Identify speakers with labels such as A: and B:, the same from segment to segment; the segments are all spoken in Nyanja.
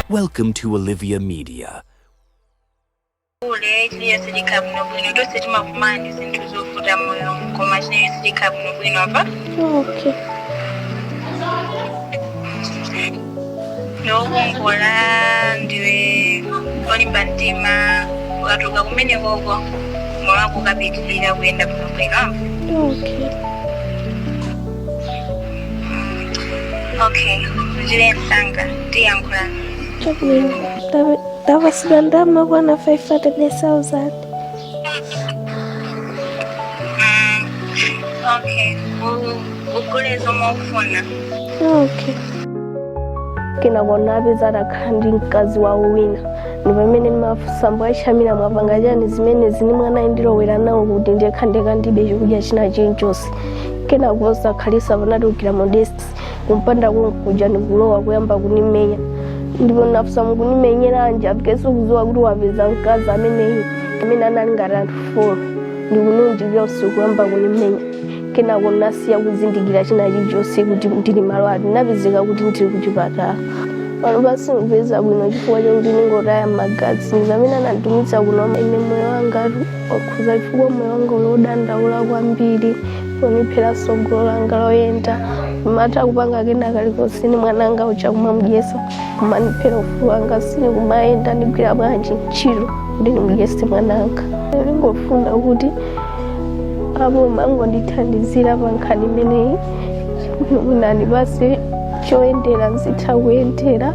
A: Welcome to Olivia Media. ule chilichonse chikhala bwino bwino tonse timakumana ndi zinthu zovuta mmoyo koma chilichonse chikhala bwino bwino apa Okay. ndiwe wokongola ndiwe olimba mtima ukatuluka kumene kuno moyo wako ukapitirira kuyenda bwino bwino apa Okay. okay uchire msanga tiyankhula Chabwino, ndapa- ndapasidwa ndalama zokwana 500,000. okay u- ugule zomwe ukufuna Okay. kenako napeza atakhala ndi mkazi wawo wina ndi pamene nimafunsa bambo a Chamira mwapanga chani zimene zini mwana andilowera nawo kuti ndikhale ndekha ndibe chokudya china chilichonse kenako posakhalisa anatengera Modesti kumpanda konkuja ndikulowa kuyamba kunimenya ndipo nafusa mukunimenyera anje apikeso kuziwa kuti wapeza mkazi ameneyi amene anali ngati anthu folo ndikununjikira usiku kuyamba kunimenya kenako nasiya kuzindikira china chilichonse kuti ndili malo ati napezeka kuti ndili kuchipatala pano basi ndipeza bwino chifukwa chakuti ndingotaya magazi ndamene ananditumisa kuno ine moyo wangatu wakhuzika chifukwa moyo wanga uli odandaula kwambiri poniphera sogolo langa loyenda nimatha kupanga kena kalikonse ndi mwananga kutha kumamudyesa kumaniphera ufulu wanga sinikumayenda ndigwira bwanji ntchito kuti ndimudyese mwananga ndingofuna kuti aboma angondithandizira pa nkhani imeneyi mwina basi choyendera nzitha kuyendera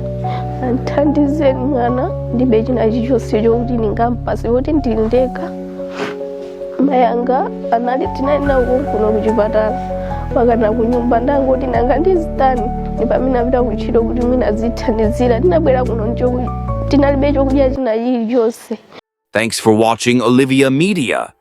A: andithandize ndi mwana ndibe china chilichonse chokuti ndingampase poti ndili ndekha mayanga anali tinali nawo konkuno kuchipatala apakana kunyumba ndangoti nanga ndizitani ndi pamene anapita kutchito kuti mwina azithandizira tinabwera kuno tinalibe chokudya china chilichonse Thanks for watching Olivia Media.